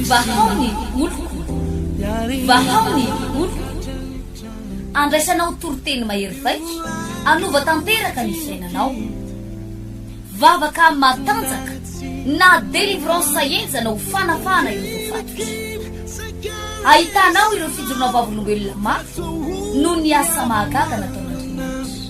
Vahao ny oloko, vahao ny oloko, andraisanao toriteny mahery vaika, anova tanteraka ny fiainanao. Vavaka matanjaka na délivrance henjana ho fanafahana ireo voafatotra. Ahitanao ireo fijoroana vavolombelona mafy noho ny asa mahagaga nataon'Andriamanitra.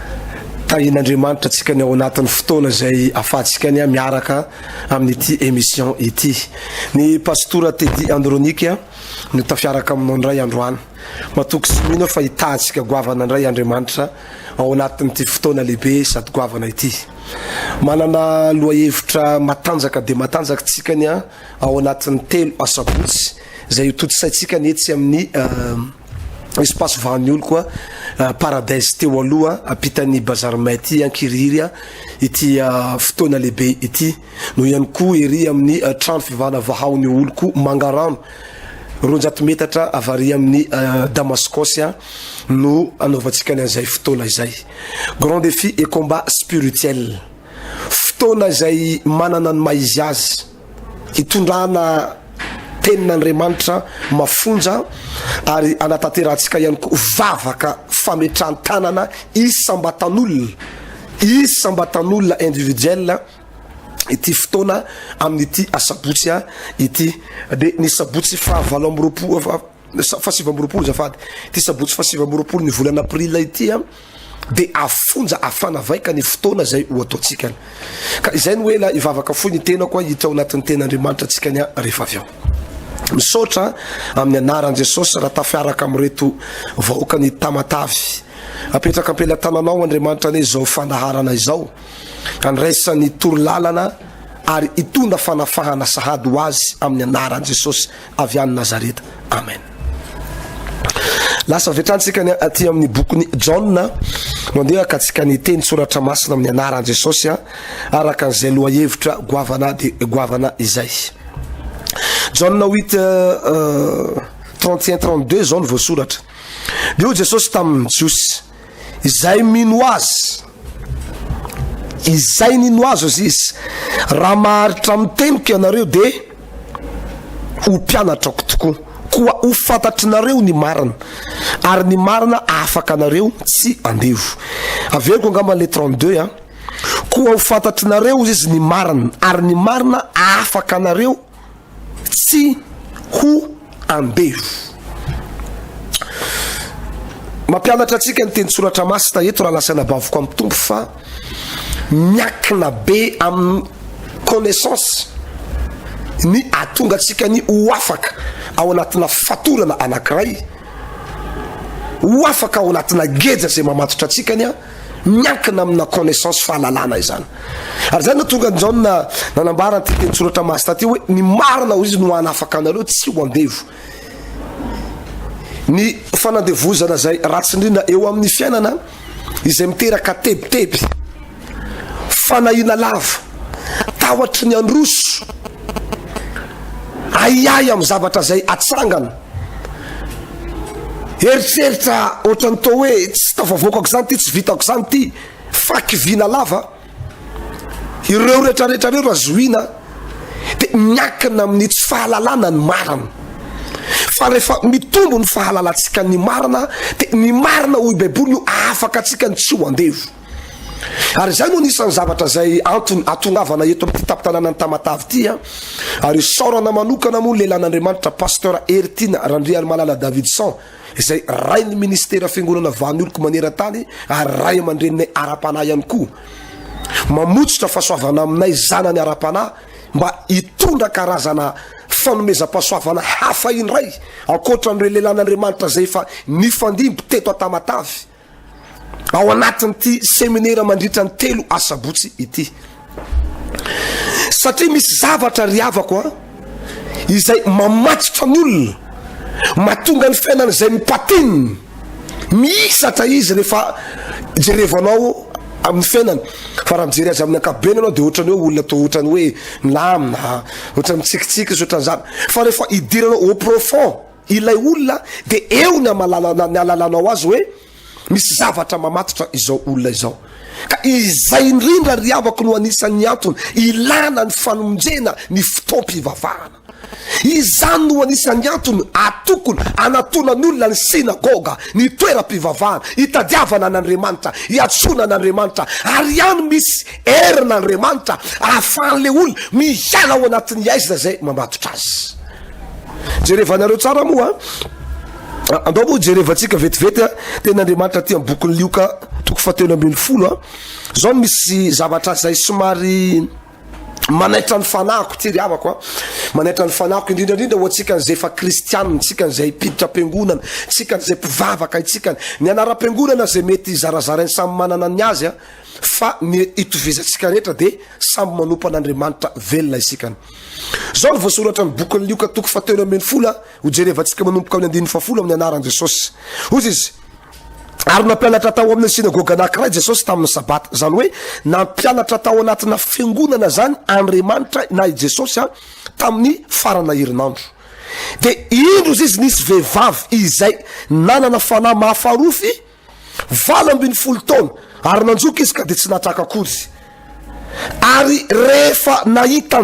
Tahian'Andriamanitra antsika ny ao anatin'ny fotoana izay afahantsika ny miaraka amin'ity émission ity. Ny Pastora Teddy Andronika no tafiaraka aminao indray androany. Matoky sy mino aho fa hitahantsika goavana indray Andriamanitra ao anatin'ity fotoana lehibe sady goavana ity. Manana lohahevitra matanjaka dia matanjaka tsika ny ao anatin'ny telo asabotsy Izay ho tontosaintsika ny etsy amin'ny Espace Vahan'Iolo koa Paradise teo aloha ampitan'ny Bazar May ity ankirihiry ity fotoana lehibe ity. Noho ihany koa ery amin'ny trano fivahana Vahaon'io olo koa Mangarano roanjato metatra avy ary amin'ny Damascos no anaovantsika ny an'izay fotoana izay. Grand défi et combat spirituel. Fotoana izay manana ny maha izy azy. Hitondrana tenin'Andriamanitra mafonja ary hanatanterantsika ihany koa vavaka fametran-tanana isam-batan'olona, isam-batan'olona individuel ity fotoana amin'ity asabotsy ity. Dia ny sabotsy faha valo amby roapolo, faha sivy amby roapolo azafady, ity sabotsy faha sivy amby roapolo ny volana aprila ity. dia afonja afana vaika ny fotoana izay ho ataontsika. Ka izay no hoe la hivavaka fohy ny tenako a hita ao anatin'ny ten'Andriamanitra antsika ny rehefa avy ao. Misaotra amin'ny anaran'i Jesosy raha tafiaraka amin'ireto vahoaka ny tamatavy. Apetraka am-pelatananao Andriamanitra anie izao fandaharana izao. Andraisan'ny toro lalana ary hitondra fanafahana sahady ho azy amin'ny anaran'i Jesosy avy any Nazareta. Amen. Lasa avy hatrany tsika ny aty amin'ny bokin'i Jaona. Mandeha ka tsika ny teny soratra masina amin'ny anaran'i Jesosy araka an'izay lohahevitra goavana de goavana izay. Jaona 8 31 32 zao ny voasoratra. Dia hoy Jesosy tamin'ny Jiosy Izay mino Azy, izay nino Azy hozy Izy, raha maharitra amin'ny teniko ianareo dia ho mpianatrako tokoa, koa ho fantatrinareo ny marina, ary ny marina afaka anareo tsy andevo. Averiko angamba le 32 a. Koa ho fantatrinareo hozy Izy ny marina, ary ny marina afaka anareo tsy ho andevo. Mampianatra antsika ny tenitsoratra masina eto raha lasaina bavoko amin'ny tompo fa miakina be amin'ny connaissance ny atonga antsika ny ho afaka ao anatina fatorana anankiray ho afaka ao anatina geja izay mamatotra antsika ny a Miankina amina connaissance, fahalalana izany. Ary izay no tonga an'i Jaona nanambara an'ity tenin-tsoratra masina ity hoe, Ny marina hoy izy no hanafaka anareo tsy ho andevo. Ny fanandevozana izay ratsy indrindra eo amin'ny fiainana izay miteraka tebiteby, fanahiana lava, tahotry ny handroso, ahiahy amin'ny zavatra izay hatsangana. Eritreritra ohatran'ny toa hoe tsy tafavoakako izany ity, tsy vitako izany ity, faky vina lava. Ireo rehetrarehetra ireo raha zohiana dia miankina amin'ny tsy fahalalana ny marina. Fa rehefa mitombo ny fahalalantsika ny marina dia ny marina hoy Baiboly no ahafaka antsika ny tsy ho andevo. Ary izay no anisan'ny zavatra izay antony hatongavana eto amin'ity tampon-tanànan'i Tamatave ity an! Ary isaorana manokana moa ny lehilahin'Andriamanitra Pasteur Heritiana Randriarimalala Davidson izay Rain'ny Ministera Fiangonana Vanolko maneran-tany ary Ray aman-dreninay ara-panahy ihany koa. Mamotsotra fahasoavana aminay zanany ara-panahy mba hitondra karazana fanomezam-pahasoavana hafa indray ankoatra an'ireo lehilahin'Andriamanitra izay efa nifandimby teto Antamatave. ao anatin'ity seminera mandritra ny telo asabotsy ity satria misy zavatra ry havako a izay mamatotra ny olona matonga ny fiainana izay mipatinina mihisatra izy rehefa jerevanao amin'ny fiainany fa raha mijery azy amin'ny ankapobeny anao dia ohatrany hoe olona to ohatrany hoe milamina ohatrany mitsikitsiky izy ohatrany zany fa rehefa hidirana au profond Ilay olona dia eo ny amalala ny alalanao azy hoe misy zavatra mamatotra izao olona izao. Ka izay indrindra ry havako no anisan'ny antony ilana ny fanomjena ny fotoam-pivavahana. Izany no anisan'ny antony atokony anatonany olona ny synagoga, ny toeram-pivavahana, hitadiavana an'Andriamanitra, hiatsoana an'Andriamanitra. Ary ihany misy herin'Andriamanitra ahafahan'ilay olona miala ao anatin'ny aizina izay mamatotra azy. Jerevanareo tsara moa a! Andao moa jerevantsika vetivety a! Tena Andriamanitra aty amin'ny bokin'i Lioka toko fahatelo ambin'ny folo a! Zao no misy zavatra izay somary manaitra ny fanahiko ity ry havako a! Manaitra ny fanahiko indrindra indrindra ho antsika izay efa kristianina, tsika izay mpiditra am-piangonana, tsika izay mpivavaka, itsika ny anaram-piangonana izay mety zarazarainy samy manana ny azy a! Fa ny itovizantsika rehetra dia samy manompo an'Andriamanitra velona isika. Izao no voasoratra amin'ny bokin'i Lioka toko fahatelo ambin'ny folo a, ho jerevantsika manomboka amin'ny andininy fahafolo amin'ny anaran'i Jesosy. Hozy izy, Ary nampianatra tao amin'ny synagoga anankiray Jesosy tamin'ny sabata. Izany hoe nampianatra tao anatina fiangonana izany Andriamanitra na i Jesosy a, tamin'ny farana herinandro. Dia indro izy nisy vehivavy izay nanana fanahy mahafarofy Valo ambin'ny folo taona ary nanjoka izy ka dia tsy natraka akory. Ary rehefa nahita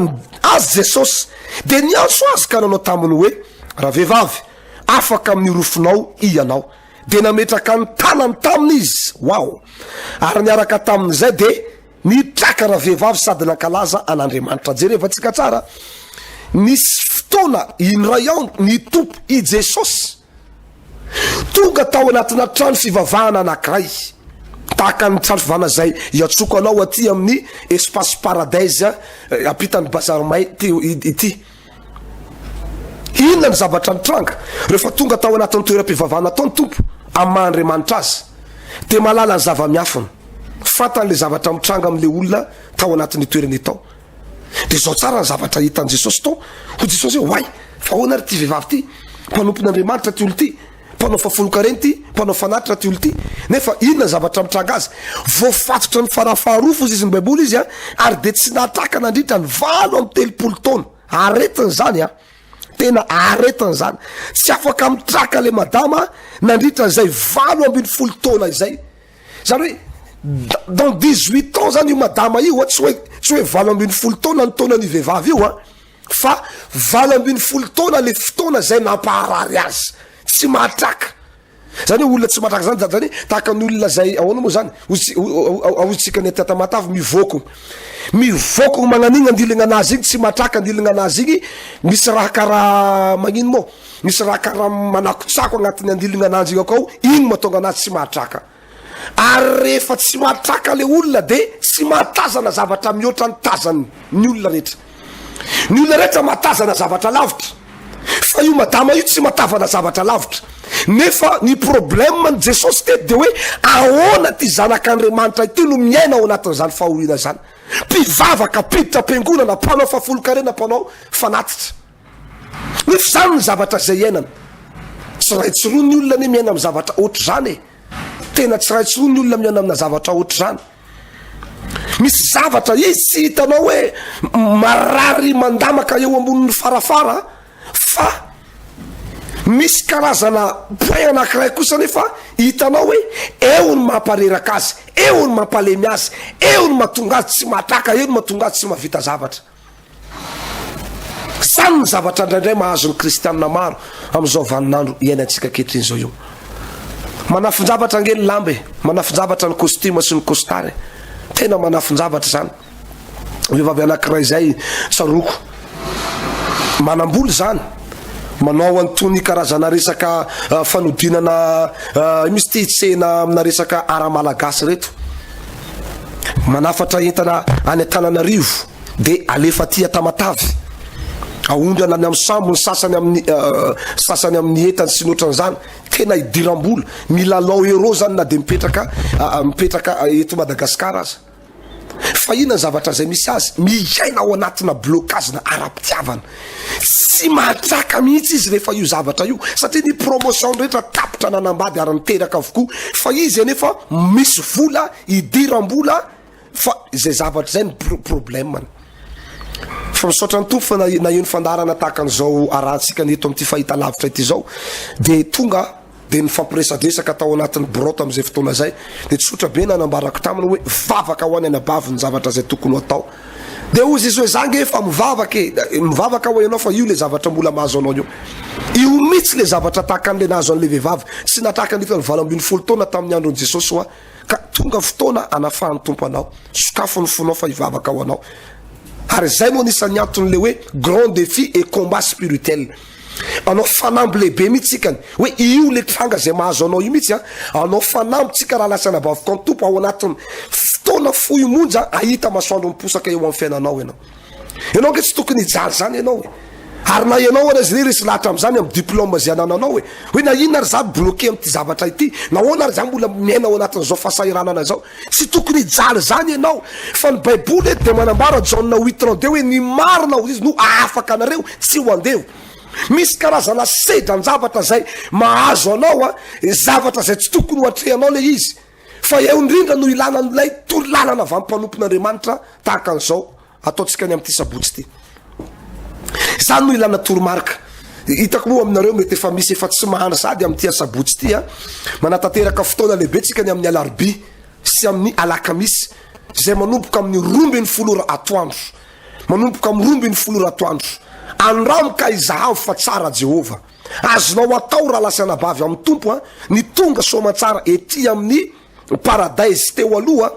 Azy Jesosy dia niantso Azy ka nanao taminy hoe, Ravehivavy, afaka amin'ny orofonao hianao. Dia nametraka ny tanany taminy Izy. Wow! Ary niaraka tamin'izay dia nitraka ravehivavy sady nankalaza an'Andriamanitra. Jerevantsika tsara, nisy fotoana indray ao ny Tompo i Jesosy. Tonga tao anatina trano fivavahana anankiray, tahaka ny trano fivavahana izay iantsoko anao aty amin'ny Espace Paradise eh, ampitan'ny Bazar May ity, ity. Inona ny zavatra nitranga? Rehefa tonga tao anatin'ny toeram-pivavahana tao ny Tompo, amin'ny maha Andriamanitra azy, dia mahalala ny zava-miafina. Fantany le zavatra mitranga amin'ilay olona tao anatin'io toerana io tao. Dia izao tsara ny zavatra hitan'i Jesosy tao. Hoy Jesosy hoe, Oay, fa ahoana ary ity vehivavy ity? Mpanompon'Andriamanitra ity olona ity, mpanao fahafolonkarena ity, mpanao fanatitra ity olona ity. Nefa inona ny zavatra mitranga azy? Voafatotra ny farafaharoa foza izy ny Baiboly izy a, ary dia tsy natraka nandritra ny valo amby telopolo taona. Aretina izany a! Tena aretina izany. Tsy afaka mitraka ilay madama nandritra izay valo ambin'ny folo taona izay. Zany hoe dans dix huit ans zany io madama io a, tsy hoe tsy hoe valo ambin'ny folo taona ny taonan'io vehivavy io a, fa valo ambin'ny folo taona le fotoana zay nampaharary azy, tsy mahatraka. Zany hoe olona tsy mahatraka zany zany hoe tahaka ny olona zay ahoana moa zany, hozy ahoantsika ny aty Tamatave mivoako mivoako magnan'igny andiligna anazy igny tsy mahatraka andiligna anazy igny, misy raha karaha magnino moa. Misy raha karaha manakotsako agnatin'ny andilogna ananjignako ao, igny mahatonga anazy tsy mahatraka. Ary rehefa tsy mahatraka le olona de tsy mahatazana zavatra mihoatra ny tazany ny olona rehetra. Ny olona rehetra mahatazana zavatra lavitra, fa io madama io tsy mahatavana zavatra lavitra. Nefa ny problème ny Jesosy teto de hoe ahoana ty zanak'Andriamanitra ity no miaina ao anatin'izany fahoriana zany. Mpivavaka, mpiditra am-piangonana, mpanao fahafolonkarena, mpanao fanatitra. Nefa izany ny zavatra izay iainana. Tsy iray tsy roa ny olona anie miaina amin'ny zavatra ohatr'izany e. Tena tsy iray tsy roa ny olona miaina amina zavatra ohatr'izany. Misy zavatra izy tsy hitanao hoe marary mandamaka eo ambonin'ny farafara fa misy karazana boin anankiray kosa nefa hitanao hoe eo ny mampareraka azy, eo ny mampalemy azy, eo ny mahatonga azy tsy mahatraka, eo ny mahatonga azy tsy mahavita zavatra. Izany no zavatra indraindray mahazo ny kristianina maro amin'izao vaninandro iainantsika ankehitriny izao io. Manafin-javatra ange ny lamba e, manafin-javatra ny costume sy ny costard e. Tena manafin-javatra izany. Vehivavy anankiray izay tsaroako, manam-bola izany, manao an'itony karazana resaka ah, fanodinana ah, misy ity tsena amina resaka ara-malagasy ireto. Manafatra entana any Antananarivo dia alefa aty a Tamatave. Aondrana any amin'ny sambo ny sasany amin'ny sasany amin'ny entany sy ny ohatran'izany. Tena idiram-bola. Milalao euro zany na dia mipetraka mipetraka eto Madagasikara aza. Fa inona ny zavatra izay misy azy? Miaina ao anatina blocage-na ara-pitiavana. Tsy manjaka mihitsy izy rehefa io zavatra io satria ny promotion rehetra tapitra nanambady ary niteraka avokoa fa izy anefa misy vola idiram-bola fa izay zavatra izay ny problème-ny fa misaotra ny tompo fa naheno fandarana tahaka an'izao arantsika ny eto amin'ity fahita lavitra ity izao dia tonga dia nifampiresadresaka tao anatin'ny birao tamin'izay fotoana izay, dia tsotra be ny nanambarako taminy hoe vavaka ho any anabavy ny zavatra izay tokony ho atao. Dia hozy izy hoe za nge efa mivavaka e, mivavaka aho ianao fa io le zavatra mbola mahazo anao io. Io mitsy le zavatra tahaka an'le nahazo an'le vehivavy tsy natraka ny iton'ny valo ambin'ny folo taona tamin'ny andron'i Jesosy hoa ka tonga fotoana anafahan'ny Tompo anao. Sokafo ny fonao fa hivavaka ho anao. Ary izay no anisan'ny anton'le hoe grand défi et combat spirituel. Anao fanamby lehibe mihitsy tsika ny hoe io le tranga izay mahazo anao io mihitsy a. Anao fanamby tsika raha lasa anabaviko an'i Tompo ao anatin'ny fotoana fohy monja ahita masoandro miposaka eo amin'ny fiainanao ianao. Ianao ange tsy tokony hijaly izany ianao e. Ary na ianao ary azy resy lahatra amin'izany amin'ny diplôme izay anananao e. Hoe na inona ary za bloqué amin'ity zavatra ity, nahoana ary za mbola miaina ao anatin'izao fahasahiranana izao. Tsy tokony hijaly izany ianao. Fa ny Baiboly dia manambara, Jaona huit trente deux, hoe ny marina hoy izy no hahafaka anareo, tsy ho andevo. Misy karazana sedran-javatra izay mahazo anao, zavatra izay tsy tokony hoatrehanao ilay izy. Fa eo indrindra no ilana an'ilay torolalana avy amin'ny mpanompon'Andriamanitra tahaka an'izao. Ataontsika ny amin'ity sabotsy ity. Izany no ilana toromarika. Hitako moa aminareo mety efa misy efa tsy mahana sady amin'ity asabotsy ity a. Manatanteraka fotoana lehibe tsika ny amin'ny alarobia sy amin'ny alakamisy izay manomboka amin'ny roa ambin'ny folo ora atoandro. Manomboka amin'ny roa ambin'ny folo ora atoandro. Andramo ka izahavo fa tsara Jehovah. Azonao atao raha lahy sy anabavy amin'ny Tompo a, ny tonga soamantsara ety amin'ny Paradise teo aloha,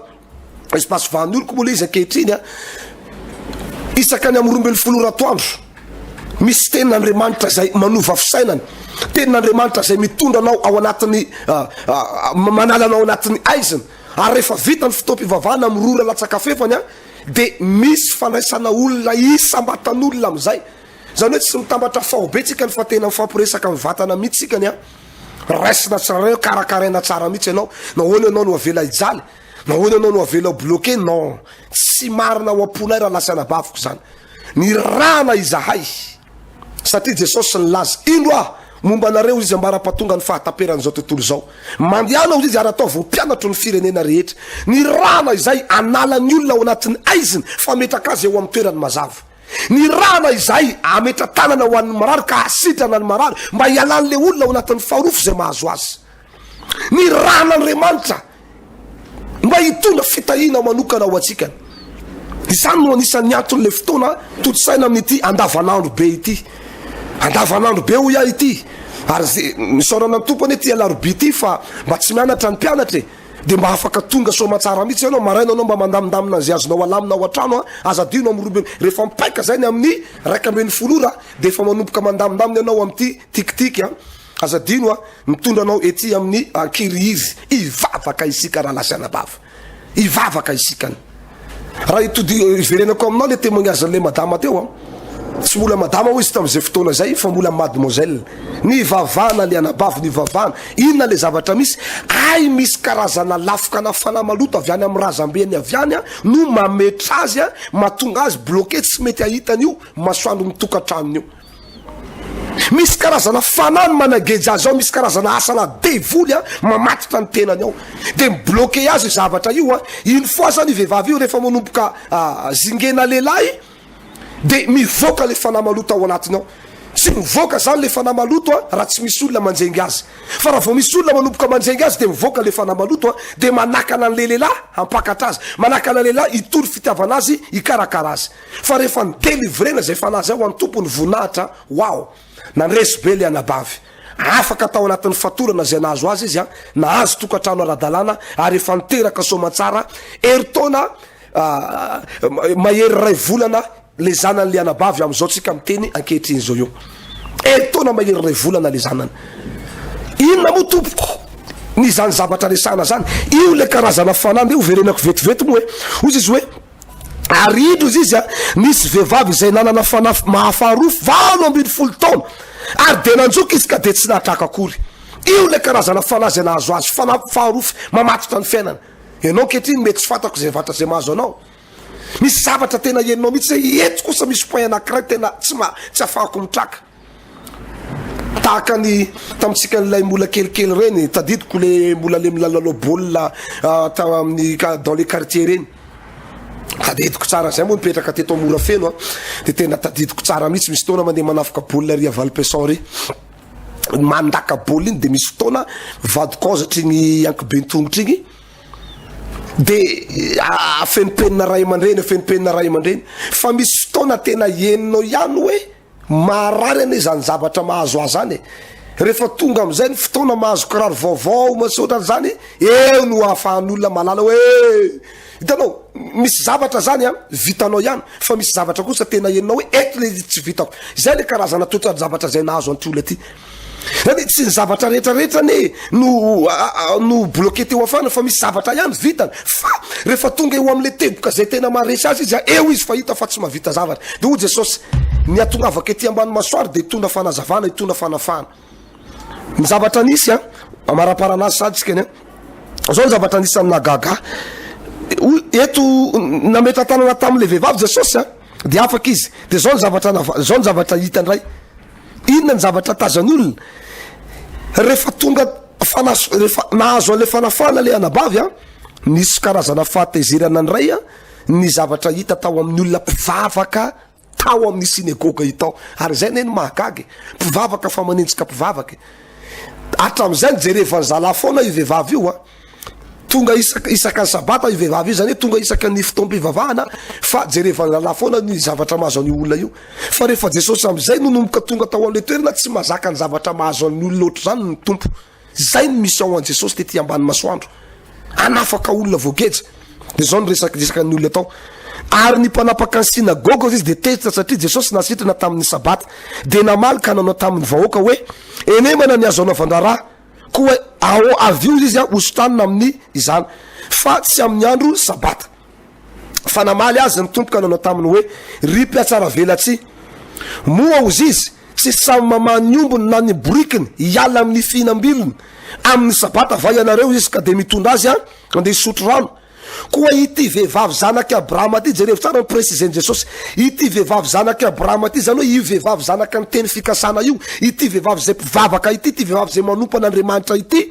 espace Vahan'oriko moa le izy ankehitriny a. Isaka ny amin'ny roa ambin'ny folo ora atoandro, misy tenin'Andriamanitra izay manova fisainana, tenin'Andriamanitra izay mitondra anao ao anatin'ny ah, ah, ah, manala anao anatin'ny aizina. Ary rehefa vita ny fotoam-pivavahana amin'ny roa ora latsakafefany a, dia misy fandraisana olona isam-batan'olona amin'izay. Izany hoe tsy mitambatra faobe tsika ny fa tena mifampiresaka amin'ny vatana mihitsy tsika ny a. Raisina tsaraiao, karakaraina tsara mihitsy ianao. Nahoana ianao no avela hijaly? Nahoana ianao no avela ho bloqué? Non, tsy marina ao am-polay raha lasa anabaviko izany. Nirahana izahay satria Jesosy nilaza, Indro aho, momba anareo izy ambara-pahatonga ny fahataperan'izao tontolo izao. Mandehana hoy izy ary ataovy ho mpianatro ny firenena rehetra. Nirahana izay hanala ny olona ao anatin'ny haizina, fametraka azy eo amin'ny toerany mazava. Ny rama izay ametra-tanana ho an'ny marary ka hasitrana ny marary mba hialan'ilay olona ao anatin'ny faharoafo izay mahazo azy. Ny ran'Andriamanitra mba hitondra fitahiana manokana ho antsika. Izany no anisan'ny anton'ilay fotoana tontosaina amin'ity andavanandro be ity. Andavanandro be hoy aho ity. Ary isaorana ny tompo anie ity alarobia ity fa mba tsy mianatra ny mpianatra e. Dia mba afaka tonga soamatsara mitsy ianao maraina anao mba mandamindamina an'izay azonao alamina ao an-trano a! Aza adino amin'ny roa ambin'ny, rehefa mipaika izay ny amin'ny iraika ambin'ny folo ora dia efa manomboka mandamindamina ianao amin'ity tikitika a! Aza adino a! Mitondra anao ety amin'ny ankirihiry, hivavaka isika rahalahy sy anabavy, hivavaka isika. Raha itodi- iverenako aminao le témoignage an'ilay madama teo a. Tsy mbola madama hoy izy tamin'izay fotoana izay fa mbola mademoiselle. Nivavahana le anabavy nivavahana. Inona le zavatra misy? Hay misy karazana lafokana fanahy maloto avy any amin'ny razambeny avy any a no mametra azy a, mahatonga azy bloqué tsy mety ahita an'io masoandro ny tokantranony io. Misy karazana fanahy ny manageja azy ao, misy karazana asana devoly an, mamatotra ny tenany ao, dia mi bloquer azy io zavatra io an, une fois zany io vehivavy io rehefa manomboka zingena lehilahy dia mivoaka ilay fanahy maloto ao anatiny ao, tsy mivoaka zany ilay fanahy maloto an raha tsy misy olona manjenga azy, fa raha vao misy olona manomboka manjenga azy dia mivoaka ilay fanahy maloto an, dia manakana an'ilay lehilahy hampakatra azy, manakana lehilahy hitory fitiavana azy hikarakara azy. fa rehefa ny delivrena izay fanahy izay ho an'ny Tompo ny voninahitra, wow! Nandresy be ilay anabavy. Afaka tao anatin'ny fatorana izay nahazo azy izy, nahazo tokantrano ara-dalàna ary efa niteraka soamantsara, herintaona mahery iray volana ilay zanan'ilay anabavy amin'izao tsika miteny ankehitriny izao io. Herintaona mahery iray volana ilay zanany. Inona moa tompoko? Ny izany zavatra resahana izany, io ilay karazana fanahy, ndeha hoverenako vetivety moa e. Hoy izy hoe, Ary indro izy izy a, nisy vehivavy izay nanana fanafy mahafaharofo valo ambin'ny folo taona, ary dia nanjoka izy ka dia tsy nahatraka akory. Io ilay karazana fanahy izay nahazo azy, fanafy faharofo mamatotra ny fiainana. Ianao ankehitriny mety tsy fantako izay vatra izay mahazo anao. Misy zavatra tena henonao mihitsy hoe eto kosa misy point anankiray tena tsy ma, tsy afahako mitraka. Tahaka ny tamintsika an'ilay mbola kelikely ireny, tadidiko le mbola le milalao baolina tao amin'ny dans les quartiers ireny. Tadidiko tsara zay moa nipetraka teto Morafeno a, de tena tadidiko tsara mihitsy, misy fotoana mandeha manafika baolina ry Valpeson ry. Mandaka baolina iny de misy fotoana vadiko aoza hatrigny ankiben-tongotra igny, de afenimpenina ray aman-dreny, afenimpenina ray aman-dreny, fa misy fotoana tena henonao ihany hoe. Maharary anie zany zavatra mahazo ahy zany e! Rehefa tonga amizay ny fotoana mahazo kiraro vaovao misaotra an'izany eo no ahafahan'olona mahalala hoe hitanao misy zavatra zany an vitanao ihany fa misy zavatra kosa tena henonao hoe eto le izy tsy vitako! Izay le karazana toetra-javatra izay nahazo an'ity olona ity. Zany tsy ny zavatra rehetra rehetra anie no no bloquer teo afana fa misy zavatra ihany vitany fa rehefa tonga eo amle teboka zay tena maharesy azy izy a eo izy fa hita fa tsy mahavita zavatra de hoy Jesosy ny hatongavako ety ambany masoara de hitondra fanazavana hitondra fanafahana ny zavatra nisy a amaraparana azy sady tsika ny a zao ny zavatra nisy amina gaga hoy eto nametra tanana tamle vehivavy Jesosy a de afaka izy de zao ny zavatra nava zao ny zavatra hita ndray Inona ny zavatra tazan' olona rehefa tonga fanas rehefa nahazo an'ilay fanafahana ilay anabavy a? Nisy karazana fahatezerana indray a ny zavatra hita tao amin'ny olona mpivavaka tao amin'ny synagoga io tao, ary izay anie no mahagaga e, mpivavaka fa manenjika mpivavaka e. Hatramin'izay nijerevan'ny zalahy foana io vehivavy io a. Tonga isaka isaka ny sabata io vehivavy io, zany hoe tonga isaka ny fotoam-pivavahana fa jerevan'ny rahalahy foana ny zavatra mahazo an'io olona io. Fa rehefa Jesosy amin'izay no nomboka tonga tao an'ilay toerana, tsy mazaka ny zavatra mahazo an'ny olona ohatr'izany ny Tompo. Zay ny mission an'i Jesosy tety ambany masoandro, hanafaka olona voageja. De zao ny resak- resakan'ny olona tao. Ary ny mpanapaka ny synagoga hozy izy dia tezitra satria Jesosy nasitrana tamin'ny sabata. Dia namaly ka nanao tamin'ny vahoaka hoe, Henemana ny azo anaovan-draharaha. Koa ao avy io izy hosotanina amin'ny izany, fa tsy amin'ny andro Sabata. Fa namaly azy ny Tompo ka nanao taminy hoe, Ry mpihatsaravelatsihy! Moa hozy izy, tsy samy mamaha ny ombiny na ny borikiny hiala amin'ny fihinam-bilony amin'ny Sabata va ianareo? Izy ka dia mitondra azy handeha hisotro rano. Koa ity vehivavy zanak'i Abrahama ity, jerevo tsara ny presizen'i Jesosy, ity vehivavy zanak'i Abrahama ity, izany hoe io vehivavy zanaka ny teny fikasana io, ity vehivavy izay mpivavaka ity, ity vehivavy izay manompo an'Andriamanitra ity,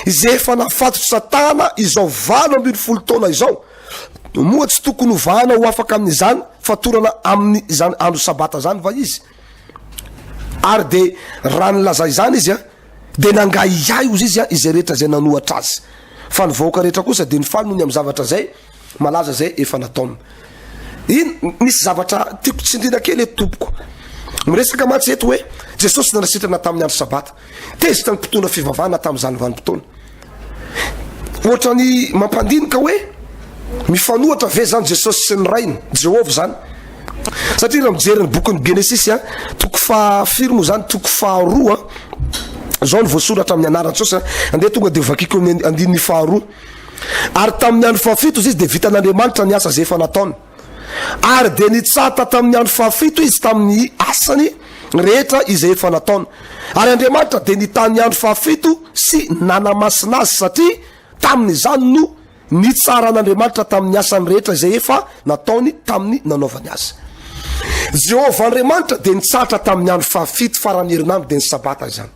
izay efa nafatotry Satana izao valo ambin'ny folo taona izao, moa tsy tokony hovahana ho afaka amin'izany fatorana amin'izany andro sabata izany va izy? Ary dia raha nilaza izany izy an, dia nangahy ahy ozy izy an izay rehetra izay nanohatra azy. Fa ny vahoaka rehetra kosa dia nifaly noho ny amin'ny zavatra izay malaza izay efa nataony. In, misy zavatra tiako tsindriana kely eto tompoko. Miresaka mantsy eto hoe Jesosy nanasitrana tamin'ny andro sabata. Tezitra ny mpitondra fivavahana tamin'izany vanim-potoana. Ohatran'ny mampandinika hoe mifanohatra ve izany Jesosy sy ny Rainy, Jehovah izany? Satria raha mijery ny bokin'ny Genesisy, a, toko fahafiry moa izany, toko faharoa, izao no voasoratra amin'ny anaran'i Jesosy, andeha tonga dia vakiko amin'ny andininy faharoa. Ary tamin'ny andro fahafito izy, dia vitan'Andriamanitra ny asa izay efa nataony. Ary dia nitsata tamin'ny andro fahafito izy tamin'ny asany rehetra izay efa nataony. Ary Andriamanitra dia nitaha ny andro fahafito sy nanamasina azy, satria tamin'izany no nitsaran'Andriamanitra tamin'ny asany rehetra izay efa nataony tamin'ny nanaovany azy. Jehovah Andriamanitra dia nitsata tamin'ny andro fahafito, faran'ny herinandro dia ny Sabata izany.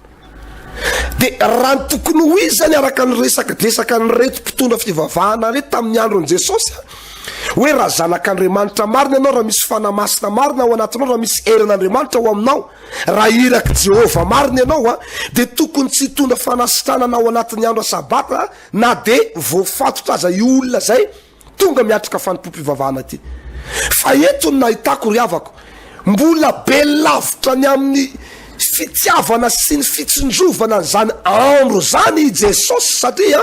Dia raha ny tokony ho izy izany araka ny resakidresaka an'ireto mpitondra fivavahana ireto tamin'ny andron'i Jesosy a, hoe raha zanak'Andriamanitra marina ianao, raha misy fanahy masina marina ao anatinao, raha misy herin'Andriamanitra ao aminao, raha irak'i Jehovah marina ianao a, dia tokony tsy hitondra fanasitranana ao anatin'ny andro Sabata na dia voafatotra aza io olona izay. Tonga miatrika fanompoam-pivavahana aty. Fa eto ny nahitako ry havako, mbola be lavitra ny amin'ny fitiavana sy ny fitsinjovana an'izany andro izany i Jesosy satria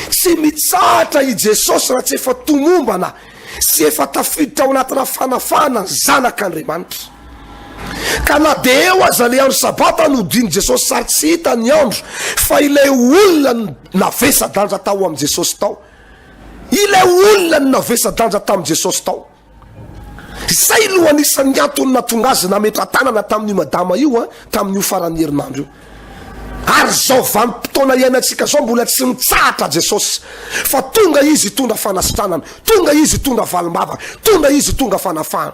tsy mitsahatra i Jesosy raha tsy efa tomombana sy efa tafiditra ao anatina fanafahana ny Zanak'Andriamanitra. Ka na dia eo aza ilay andro sabata no hodian'i Jesosy sary tsy hita ny andro fa ilay olona navesa-danja tao amin'i Jesosy tao. Ilay olona navesa-danja tamin'i Jesosy tao. Izay no anisan'ny antony nahatonga azy nametra-tanana tamin'io madama io tamin'io faran'ny herinandro io. Ary izao vanim-potoana iainantsika izao mbola tsy mitsahatra Jesosy fa tonga Izy hitondra fanasitranana, tonga Izy hitondra valim-bavaka, tonga Izy hitondra fanafahana.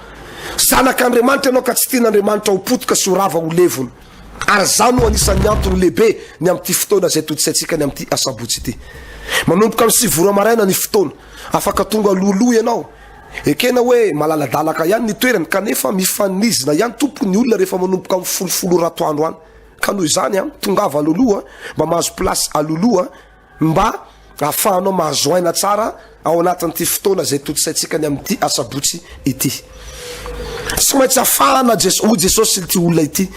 Zanak'Andriamanitra ianao ka tsy tian'Andriamanitra ho potika sy ho rava ho levona. Ary izany no anisan'ny antony lehibe ny amin'ity fotoana izay todisaintsika ny amin'ity Asabotsy ity. Manomboka amin'ny sivy ora maraina ny fotoana. Afaka tonga alohaloha ianao. Ekena hoe malaladalaka ihany ny toerany kanefa mifanizina ihany tompoko ny olona rehefa manomboka amin'ny folofolo ora atoandro any. Ka noho izany, tongava alohaloha mba mahazo place alohaloha. Mba hahafahanao mahazo aina tsara ao anatin'ity fotoana izay tontosaintsika ny amin'ity Asabotsy ity. Tsy maintsy afahana Jesosy, hoy Jesosy ity olona ity,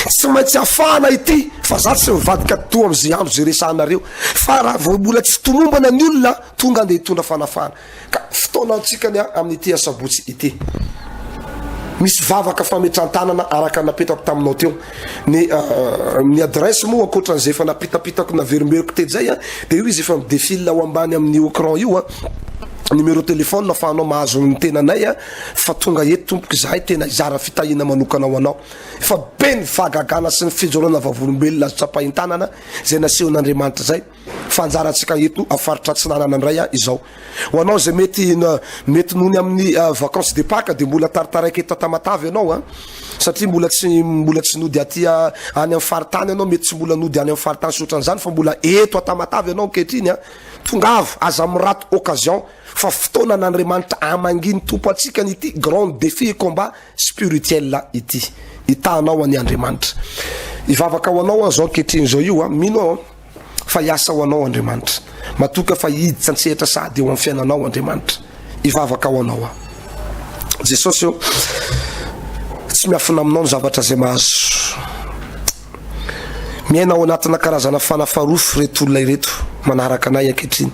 tsy maintsy afahana ity fa za tsy mivadika toa amin'izay andro izay resahanareo, fa raha vao mbola tsy tomombana ny olona, tonga dia hitondra fanafahana. Ka fotoanantsika ny amin'ity asabotsy ity. Misy vavaka fametran-tanana araka ny napetako taminao teo. Ny uh, ny adresse moa ankoatra an'izay efa napitapitako naverimberiko tetsy zay a, dia io izy efa midefile ao ambany amin'ny écran io a numéro téléphone afahanao mahazo ny tenanay a fa tonga eto tompoko izahay tena hizara fitahiana manokana ho anao fa be ny fahagagana sy ny fijoroana vavolombelona azo tsapahin-tanana izay nasehon'Andriamanitra izay Fa anjarantsika eto a faritra Atsinanana ndray a izao. Ho anao izay mety mety noho ny amin'ny vacances de Pâques dia mbola taritaraika eto Tamatave ianao a. Satria mbola tsy mbola tsy nody aty a any amin'ny faritany ianao, mety tsy mbola nody any amin'ny faritany sy ohatran'izany fa mbola eto a Tamatave ianao ankehitriny a. Tongava, aza miraty occasion fa fotoanan'Andriamanitra hamangian'ny Tompo antsika an'ity grand défi et combat spirituel ity. Hitaha anao anie Andriamanitra. Hivavaka ho anao aho izao ankehitriny izao io a, mino aho a. fa hiasa ho Anao Andriamanitra. Matoka fa hiditra an-tsehatra sahady eo amin'ny fiainanao Andriamanitra. Hivavaka ho Anao aho. Jesosy ô, tsy miafina aminao ny zavatra izay mahazo. Miaina ao anatina karazana fanafarofo ireto olona ireto manaraka anay ankehitriny.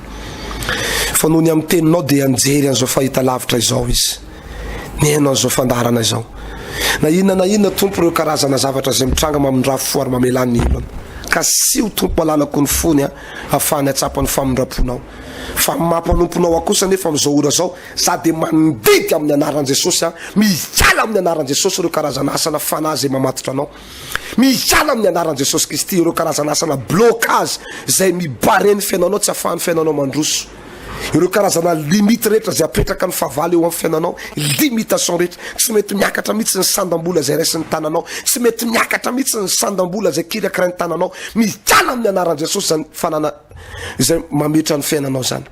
Fa noho ny amin'ny teninao dia nijery an'izao fahitalavitra izao izy. ny haino an'izao fandaharana izao. Na inona na inona Tompo ireo karazana zavatra izay mitranga mamindra fo ary mamelà ny olona. Kasiho Tompo alalako ny fony a, afahany atsapa ny famindram-ponao. Fa ny maha-mpanomponao ahy kosa nefa amin'izao ora izao, za dia mandidy amin'ny anaran'i Jesosy a, mihiala amin'ny anaran'i Jesosy ireo karazana asana fanahy izay mamatotra anao. Mihiala amin'ny anaran'i Jesosy Kristy ireo karazana asana blocage izay mibare ny fiainanao, tsy afahan'ny fiainanao mandroso. Ireo karazana limite rehetra izay apetraka ny fahavalo eo amin'ny fiainanao, limitation rehetra, tsy mety miakatra mihitsy ny sandam-bola izay raisin'ny tananao, tsy mety miakatra mihitsy ny sandam-bola izay kirakirain'ny tananao, mikala amin'ny anaran'i Jesosy izany fanana izay mametra ny fiainanao izany.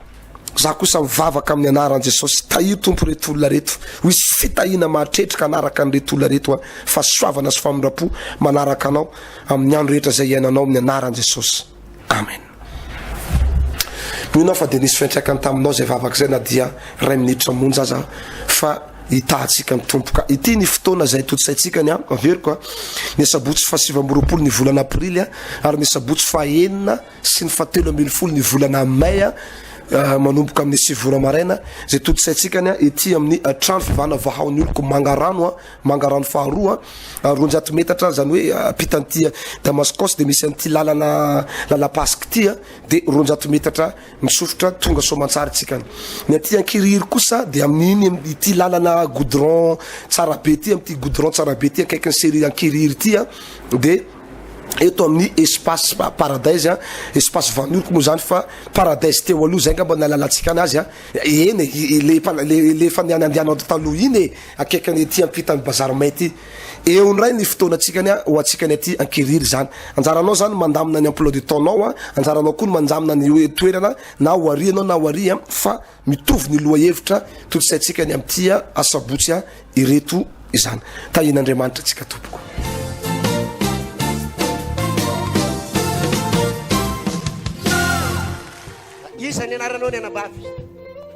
Za kosa mivavaka amin'ny anaran'i Jesosy, tahio Tompo reto olona reto, ho hisy fitahiana mahatretrika hanaraka an'ireto olona reto an, fahasoavana sy famindram-po manaraka anao amin'ny andro rehetra izay iainanao amin'ny anaran'i Jesosy. Amen. Mino aho fa dia nisy fiantraikany taminao izay vavaka izay na dia iray minitra monja aza fa hitahantsika ny Tompo ka. Ity ny fotoana izay tontosaintsika ny averiko ny asabotsy fahasivy amby roapolo ny volana aprily ary ny asabotsy fahenina sy ny fahatelo ambin'ny folo ny volana may ah, manomboka amin'ny sivy ora maraina izay tontosaintsika ny ity amin'ny trano fivana vahaon'ny oloko mangarano Mangarano faharoa a, roanjato metatra zany hoe ampita an'ity Damaskos de misy an'ity lalana lalam-pasika ity a, de roanjato metatra misofotra tonga Soamantsara tsika any. Ny aty Ankirihiry kosa de amin'iny am- ity lalana goudron tsara be ity, amin'ity goudron tsara be ity akaikin'ny serie Ankirihiry ity a, de eto amin'ny espace pa- paradise a, espace Vanilko moa zany fa paradise teo aloha, zay angamba ny nahalalantsika anazy a, eny e, i- i- le efa le le efa nianandianao taloha iny e. Akaiky ny ety ampitan'ny bazary mainty. Eo indray ny fotoanantsika ny ho antsika ny aty Ankirihiry izany. Anjaranao izany ny mandamina ny emploi du temps nao, anjaranao koa ny manjamina ny hoe toerana na ho ary ianao na ho ary fa mitovy ny lohahevitra tontosaintsika ny amin'ity asabotsy ireto izany. Tahian'Andriamanitra antsika tompoko. Iza ny anaranao ny anabavy?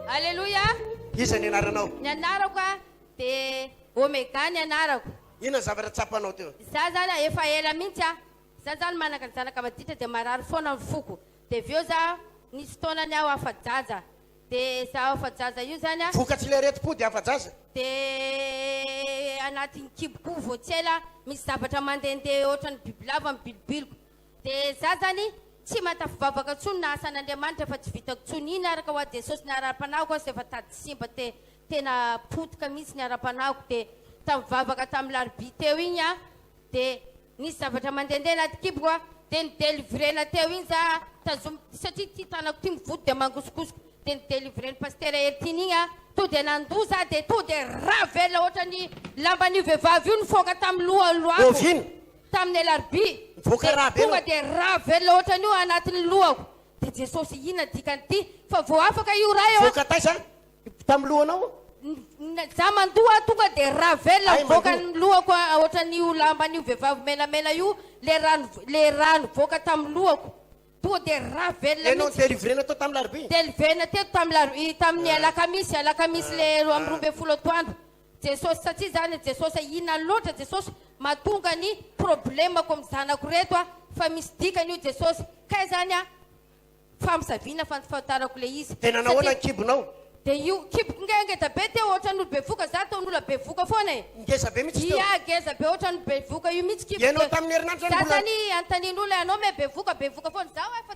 Aleloia. Iza ny anaranao? Ny anarako a de Omega ny anarako. Inona ny zavatra tsapanao teo? Za zany a efa ela mintsy a za zany manaka ny zanaka maditra de marary foana ny foko de avy eo za nisy taona ny aho afa-jaza de za afa-jaza io zany a. Vokatry le aretim-po de afa-jaza? De anatin'ny kibo ko vao tsy ela misy zavatra mandende otrany bibilava mibilobiloka Dia za zany tsy matafivavaka tsony na asa an'Andriamanitra efa tsy vitako tsony iny araka hoa Jesosy na ara-panahiko aza efa tady simba te tena potika mihitsy ny ara-panahiko dia tamin'ny vavaka tamin'ny larobia teo iny a dia nisy zavatra mandendeha anaty kiboko a dia ny delivrena teo iny za tazomy satria ity tanako ity mivody dia mangosongosoka dia ny delivren'i Pasitera Hertine iny a to dia nandoa za dia to dia ravelona ohatran'ny lamban'io vehivavy io nifoaka tamin'ny lohany loako. Oviana? Tamin'ny alarobia dia tonga dia ravela ohatran'io ao anatin'ny lohako dia Jesosy inona dikan'ity fa vao afaka io raha eo a! Tamin'ny lohanao? Za mandoha tonga dia ravela mivoaka ny lohako ohatran'io lamban'io vehivavy menamena io le rano le rano mivoaka tamin'ny lohako tonga dia ravela mihitsy. Ianao delivrena tao tamin'ny larobia? Delivrena teto tamin'ny laro tamin'ny alakamisy alakamisy le roa amby roa ambin'ny folo atoandro Jesosy satria zany Jesosy ina loatra Jesosy matonga ny problème ko am zanako reto a fa misy dikany io Jesosy kay zany a famosavina fantafantarako le izy Tena nahoana ny kibonao? Dia io kiboko nge ngezabe teo ohatran'ny olo bevoka za tao nola bevoka foana e! Ngezabe mihitsy teo? Ia gezabe ohatran'ny bevoka io mihitsy kiboko e! Ianao tamin'ny herinandro zany mbola. Za zany antanin'olo e anao me bevoka bevoka foana za oe fa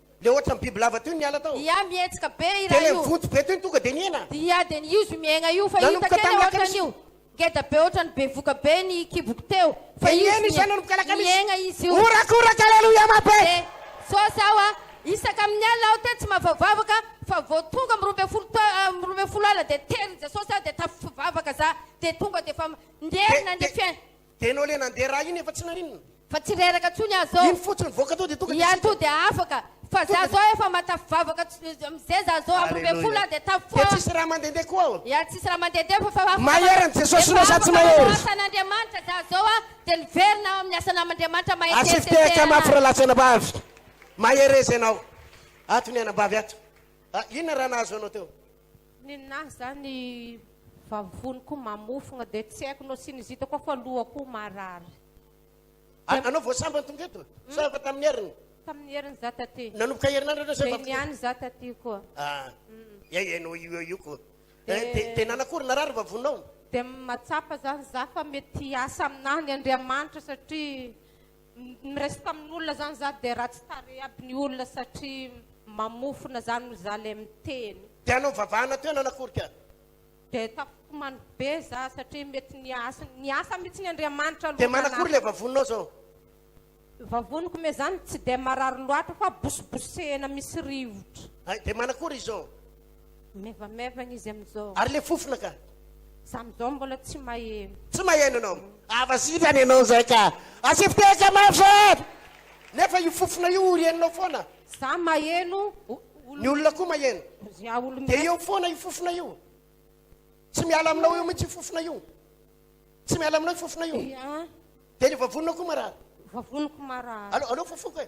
Le ohatran bibilava toy ny ala tao. Dia mihetsika be io raha io. Dia le vonjy be toy ny tonga dia nihena. Dia dia ny izy miaigna io fa hita tena ohatran io. Ngeda be ohatran bevoka be ny kiboko teo fa izy miaigna izy io. Horakoraka aleloia mabe. Dia sao sao a. Isaka amin ny alina aho tetsy mavavavaka fa vao tonga am roa ambin'ny folo tao am roa ambin'ny folo alina dia terin jesosy aho dia tafvavaka za dia tonga dia efa nderina ny fiainana. Dia enao le nandeha raha iny efa tsy naninona. Fa tsy reraka tsony ah zao. Iny fotsiny voaka tao dia tonga dia Iany to dia afaka. Fa za zao efa matafivavaka amzay za zao amby roa ambin'ny folo ah dia tafo Dia tsisy raha mandendeha koa aho. Iany tsisy raha mandendeha fa fa afaka Mahery an'i Jesosy no sa tsy mahery. Efa afaka manao asa an'Andriamanitra za zao ah dia niverina ao amin'ny asa nam'Andriamanitra mahay Atsy tety fitehaka mafy tena. ralatsy anabavy. Mahereza ianao. Ato ny anabavy ato. Ah inona raha nahazo anao teo. Ninahy za ny vavony ko mamofogna de tsy haiko no sinizita koa fa loha ko marary. Ary anao vao sambany tonga eto? Sa efa tamin'ny heriny? Tamin'ny heriny za taty. Nanomboka herinandro anao zay vao tonga eto? Zay niany za taty ko. Ah, hay enao io eo io ko. De nanakory narary ny vavonao? De matsapa zany za fa mety hiasa aminah ny Andriamanitra satria Miresy tamin'olona zany za de ratsy tarehy aby ny olona satria mamofona zany no za le miteny. De hanao vavahana teo nanaforika. De tafitomany be za satria mety niasa niasa mitsy ny Andriamanitra aloha. De manakory le vavoninao zao. Vavoniko me zany tsy de marary loatra fa bosibosehina misy rivotra. Hay de manakory izao. Maivamaivagna izy amizao. Ary le fofona ka? Za amizao mbola tsy maheno. Tsy maheno anao? Avazivany anao zay ka. Asevo tehaka mafy zay! Nefa io fofona io orenonao foana. Za maheno, ny olona koa maheno. Za olo. Dia eo foana io fofona io. Tsy miala aminao eo mihitsy io fofona io. Tsy miala aminao io fofona io. Dia ny vavonina koa marary. Vavoniko marary. Aleo, aleo fofoko e.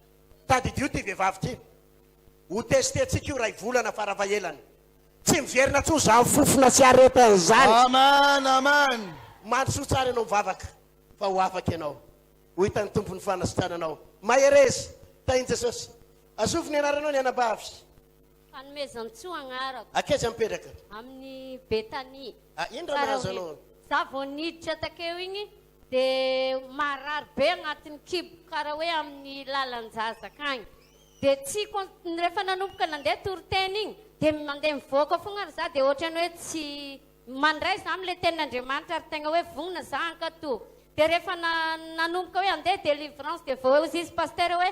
Tadidio ity vehivavy ity. Ho tester-tsika io iray volana fara fahelany. Tsy miverina intsony izany fofona sy aretany izany. Amen amen. Mandrosoa tsara ianao mivavaka fa ho afaka ianao. Ho hitan'ny Tompo ny fanasitranana anao. Mahereza. Tahin'i Jesosy. Azovy ny anaranao ny anabavy? Fanomezantsoa agnarako. Akaiza mipetraka? Amin'ny Betania. Ah, inona raha mahazo anao? Za vao niditra takeo igny Dia marary be agnatin'ny kibo karaha hoe amin'ny lalan-jazaka agny. Dia tsy con- rehefa nanomboka nandeha toriteny igny, dia mandeha mivoaka fogna ary za dia ohatran'ny hoe tsy mandray za am'le tenin'Andriamanitra ary tegna hoe vognona za hankatò. Dia rehefa na- nanomboka hoe handeha délivrance dia voaoz'izy pasitera hoe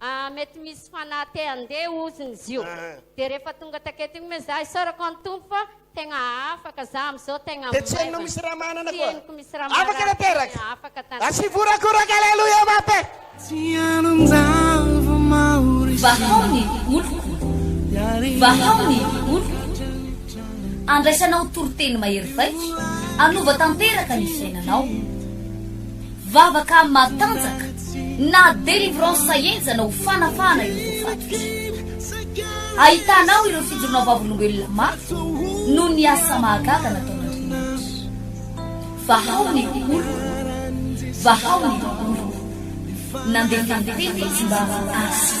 Ahh mety misy fanahy te handeha oziny izy io dia rehefa tonga taketo iny moa za isaorako an'i Tompo fa tegna afaka za amizao tegna Dia tsy henonao maivana misy raha manana tsy koa henoko misy raha Afaka marary fa tanteraka tegna afaka Atsy tanteraka hivorakoraka Aleloia Mapeh. Vahao ny oloko, vahao ny oloko, andraisanao toriteny mahery vaika, anova tanteraka ny fiainanao. Vavaka matanjaka na délivrance enjana ho fanafahana ireo voafatika. Ahitana ao ireo fijoroana vavolombelona mafy noho ny asa mahagaga nataon'Andriamanitra. Vahao ny oloko, vahao ny oloko. Nandeha tany tena izy mba hahita azy.